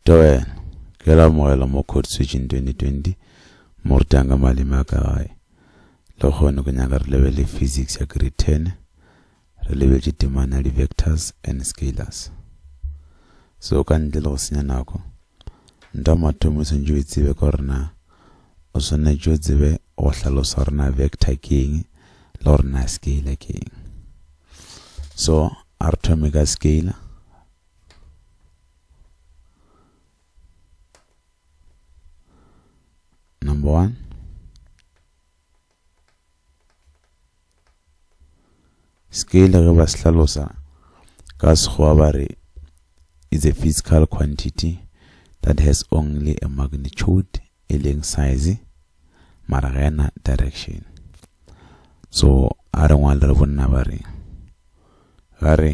Tawena, ke la amogela mo Code Switching 2020, mo re tanga maleme a ka gae. Lehono ke nyaka re lebelele physics ya grade 10, re lebeletše temana ya di-vectors and scalars. So ka ntle le go senya nako, nta mathomo swantše o itsebe ka gore na o swanetše o tsebe go hlalosa gore na vector ke eng le gore na scalar ke eng. So a re thome ka scalar. Number one. Scale ge ba se hlalosa ka sekgowa ba re is a physical quantity that has only a magnitude e leng size mara ga ena direction so a re ngwale re bonna ba re ga re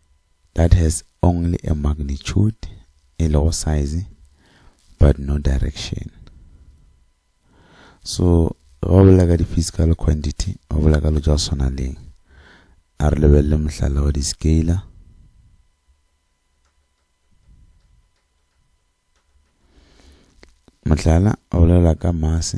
that has only a magnitude e lego size but no direction so ga o bolela ka di-physical quantity ga o bolela ka lo tša go swana leng a re lebelele mohlala wa di-scaler mohlala a bolela ka mass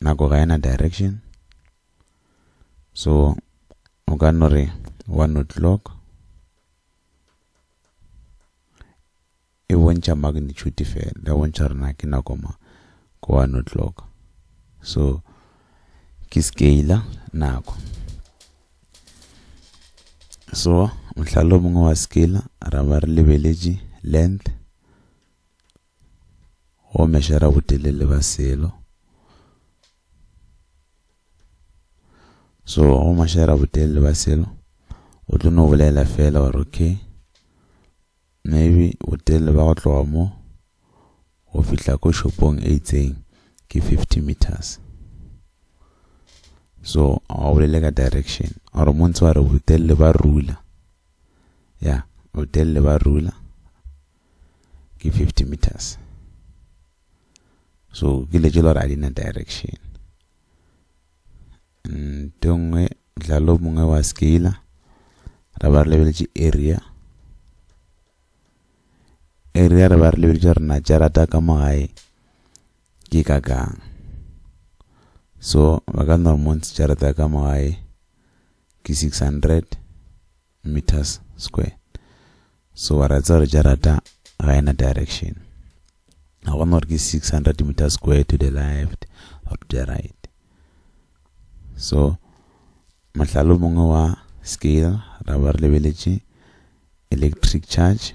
nako ga ena direction so o ka no re one o'clock e bontšha magnitude fela le bontšha rena ke nako ma ko one o'clock so ke scale nako so mohlala o mongwe wa scale ra ba re lebeletše length go mešera botelele ba selo so go mešera botelele ba selo o tlo no bolela fela gore okay maybe botelele ba go tloga mo go fihla ko shopong e itseng ke 50 meters so ga o bolele ka direction gore mo ntse wa re botelele ba rula ya botelele ba rula ke 50 meters so ke le tšela gore a di na direction nto nngwe dlalo mongwe wa scala ra ba re lebeletše area area re ba re lebeletše gore na jarata ka mo gae ke ka kang so ba ka nna monts jarata ka mo gae ke 600 meters square so wa ra tsa gore jarata ga ena direction ga gona gore ke 600 meters square to the left or to the right so mahlalo mongwe wa scale ra ba re lebeletše electric charge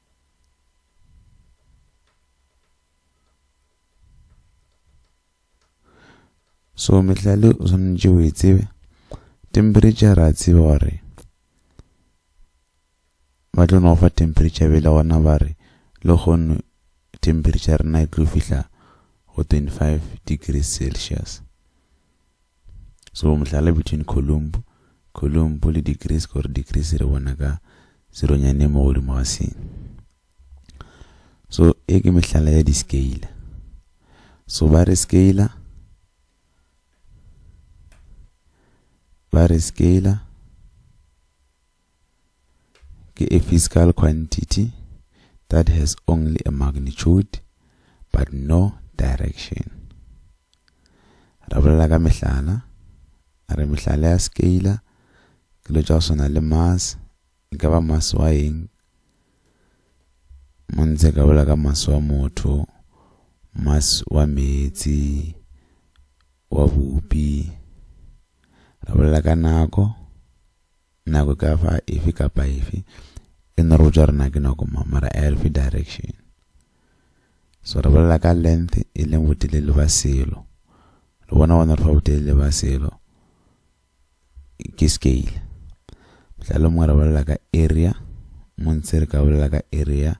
so mehlale o swanetše o e tsebe temperature ra tseba gore ba tlo no fa temperature bele gona ba re le kgono temperature rena e tlo fihla go 25 degrees celsius so mohlala between columbu columbu le degrees gore degrees re bona ka seronyane mo godimo ga seng so e ke mehlala ya di-scale so ba re scale ba re scale ke a physical quantity that has only a magnitude but no direction re bolela ka mehlala a re mehlala ya scalar ke lo tša go swana le mass e ka ba mass wa eng mo ntse ka bolela ka mass wa motho mass wa meetse wa bupi re bolela ka nako Nako e ka ba efe kapa efe, e no re botša gore na ke nako mang, mara a e re fe direction. So re bolela ka length e leng botelele ba selo. Re bona gona re fa botelele ba selo ke scale. Mohlala o mongwe re bolela ka area, mo ntse re ka bolela ka area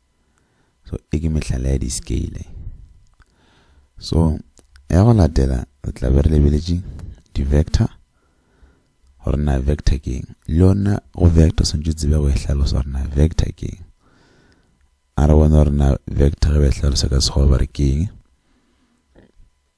so e ke mehlala ya di-scale so ya go latela re tla be re lebeletše di-vector gore na vector ke eng le yona go vector swantse tsebe go e hlalosa gore na vector ke eng a re bona gore na vector ge ba e hlalosa ka sekgoba ba re ke eng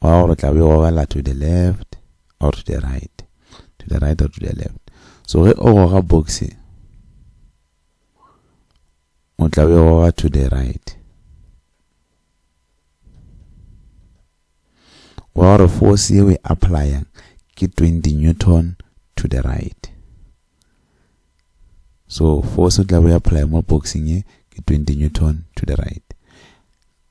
wa gore tla be o gogela to the left or to the right to the right or to the left so ge o goga box o tla be o goga to the right wa gore force ye o e applyang ke 20 newton to the right so force o tla be o apply mo boxing ye ke 20 newton to the right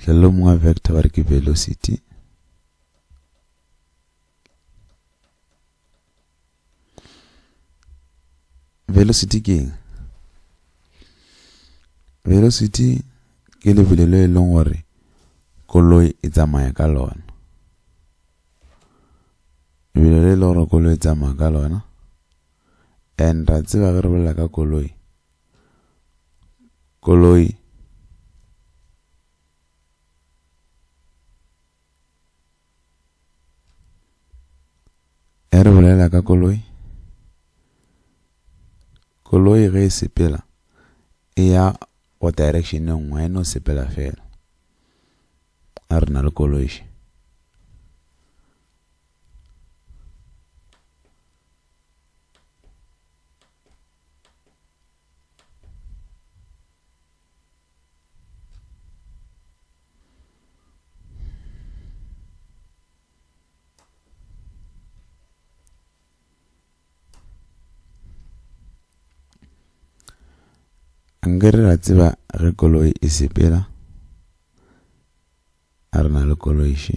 hlelo mongwe vector ba re ke velocity velocity ke eng velocity ke lebelo le e leng gore koloi e tsamaya ka lona lebelo le e leng gore koloi e tsamaya ka lona and ra tseba ge re bolela ka koloi koloi e re bolela ka koloi koloi ge e sepela e ya go direction e nngwe e no sepela fela a re na le koloi še nke re ra tseba ge koloi e sepela a re na le koloiše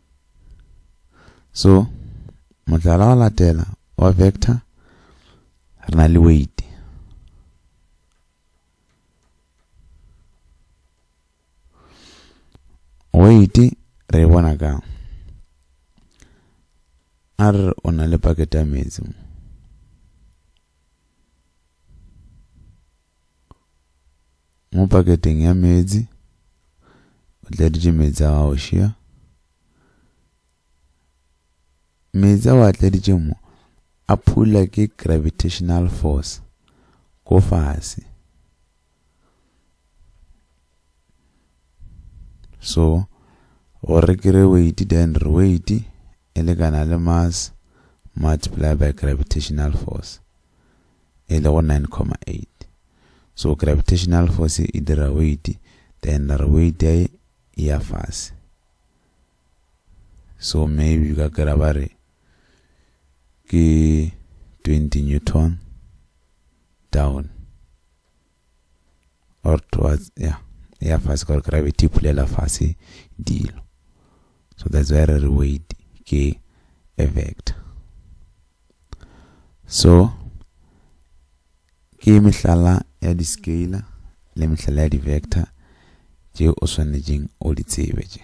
so mohlala wa latela wa vector re na le weight weight re bona ka a re o na le pakete ya metsi Mo paketeng ya meetse o tladitše meetse a gago šia. Meetse a o a tladitše mo a phula ke gravitational force ko fase. So gore ke re weight then re weight e lekana le mass multiply by gravitational force. e lego 9,8 so gravitational force e dira weight then ra re weight ya e ya fase so maybe ka kira ba re ke 20 newton down or towards ya e ya fase gore gravity e phulela fase dilo so that's why re re weight ke a vector so ke mehlala ya di-scalar le mehlala ya di-vector tše o swanetšeng o di tsebe tše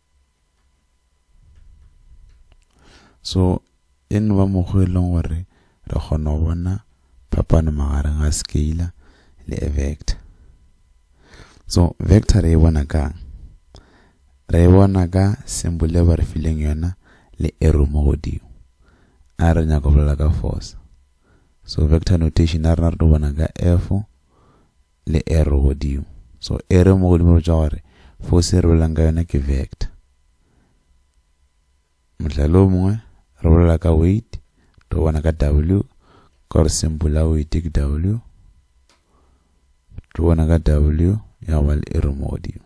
so e no ba mokgwa e leng gore re kgona go bona phapano magareng ga scalar le a vector so vector re e bona kang re e bona ka symbol e ba re fileng yona le arrow mo godimo a re nyaka go bolela ka force so vector notation a rena re tlo bona ka f le arrow godimo. So arrow mo godimo e botša gore force e re bolelang ka yona ke vector. Mohlala o mongwe re bolela ka weight, re bona ka W ka gore symbol ya weight ke W. Re bona ka W ya go ba le arrow mo godimo.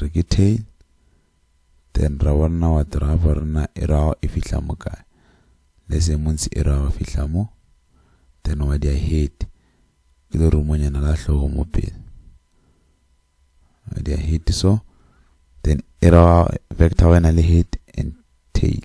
re ke tail then ra bo rena what ra bo rena e ra e fihla mo kae le se montsi e ra go fihla mo then wa dia head ke le rumonyana la hlogo mo pele wa dia head so then e ra vector wena le head and tail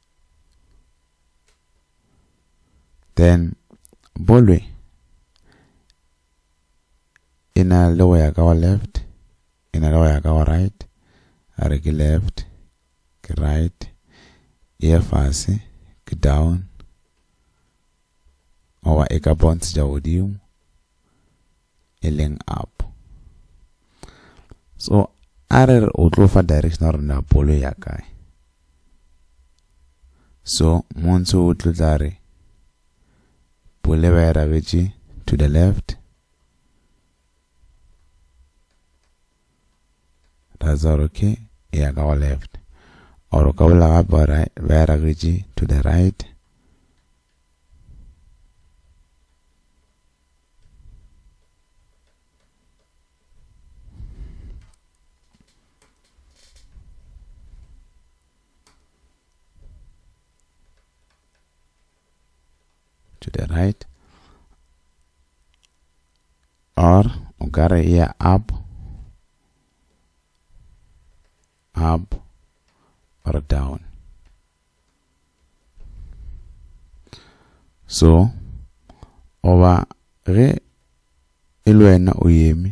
then bolwe e na le go ya ka wa left e na le go ya ka wa right a re ke left ke right e ye fase ke down goba e ka bontšha godimo e leng up so a re re o tlo fa direction gore na bolo ya kae so montsho o tlo tla re bole ba e rabetše to the left razor ke e ya ka go left or o ka bula gape wa re bea ragetši to the right to the right or o ka re ya up up or down so oba ge e le wena o yeme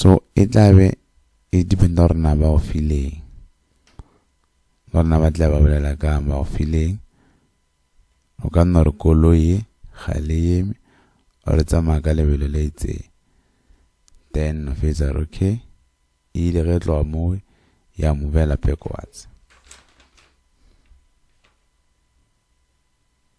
so e tla be e dependa gore na ba o fileng gore na ba tla ba bolela ka ba o fileng o ka nna gore koloi ye ga le yeme gore tsamaya ka lebelo le itseng then o fetsa gore okay e ile ge e tloga moo ya mo bela backwards